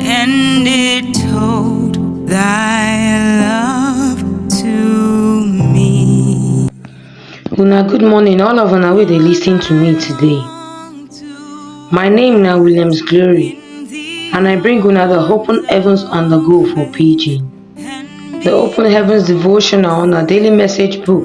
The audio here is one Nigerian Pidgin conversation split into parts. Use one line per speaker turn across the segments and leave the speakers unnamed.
And it told thy love to me. Una good morning, all of una wey dey listen to me today. My name na Williams Glory, and I bring una the Open Heavens on the Go for Pidgin. The Open Heavens devotional on our daily message book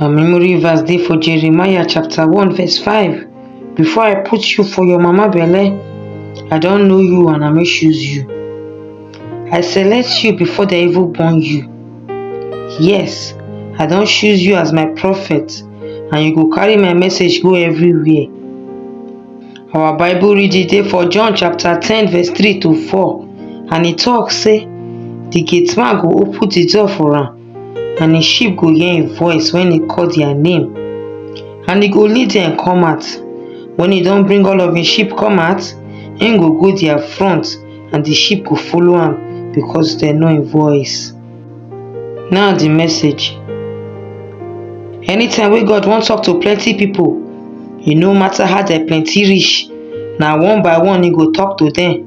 Our memory verse dey for Jeremiah chapter 1 verse 5. Before I put you for your mama belle, I don know you and I no choose you. I select you before dem even born you. Yes, I don choose you as my prophet and you go carry my message go everywhere. Our Bible reading dey for John chapter 10 verse 3 to 4 and e talk say, The gate man go open the door for am and im sheep go hear im voice wen e call dia name and e go lead dem come out wen e don bring all of im sheep come out im go go dia front and di sheep go follow am because dem know im voice now di message anytime wey God wan talk to plenty pipo e no matter how dem plenty reach na one by one e go talk to dem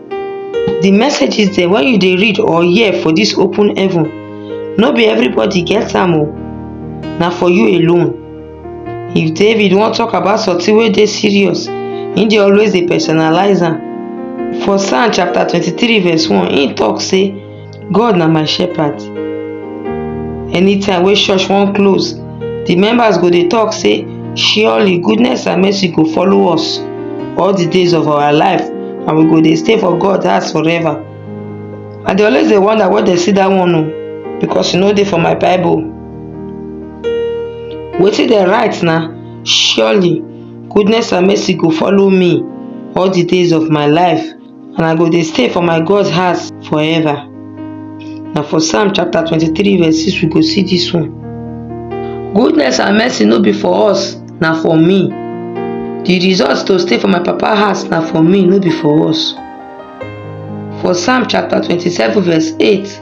di messages dem wey you dey read or hear for dis open heaven no be everybody get am o na for you alone if david wan talk about something wey dey serious he dey always dey personalize am for psalm chapter twenty three verse one he talk say God na my shepherd. Anytime wey church wan close, the members go dey talk say, surely goodness and mercy go follow us all the days of our life and we go dey stay for God house forever. I dey always dey wonder where dem see that one o because e no dey for my bible. Wetin dem write na surely goodness and mercy go follow me all the days of my life and I go dey stay for my God's house forever. Na for Psalm chapter 23 verse 6 we go see this one. Goodness and mercy no be for us, na for me. The result to stay for my papa house na for me, no be for us. For Psalm chapter 27 verse 8,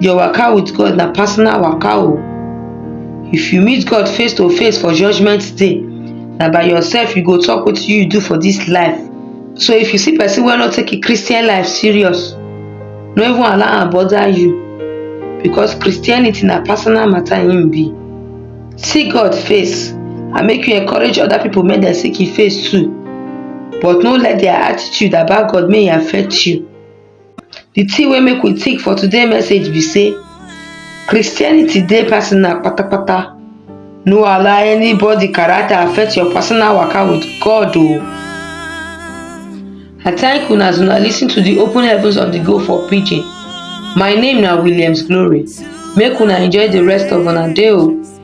Your waka with God na personal waka o. If you meet God face to face for judgment day, na by yourself you go talk wetin you do for this life. So if you see person wey no take im Christian life serious, no even allow am bother you because Christianity na personal matter im be. See God face and make you encourage other people make dem seek im face too but no let their attitude about God make e affect you. di tin wey make we think for today message be sey Christianity dey personal patapata no allow anybody character affect your personal waka with God o I thank una as una lis ten to di open heavens of di go for pidgin my name na Williams Glory make una enjoy di rest of una day o.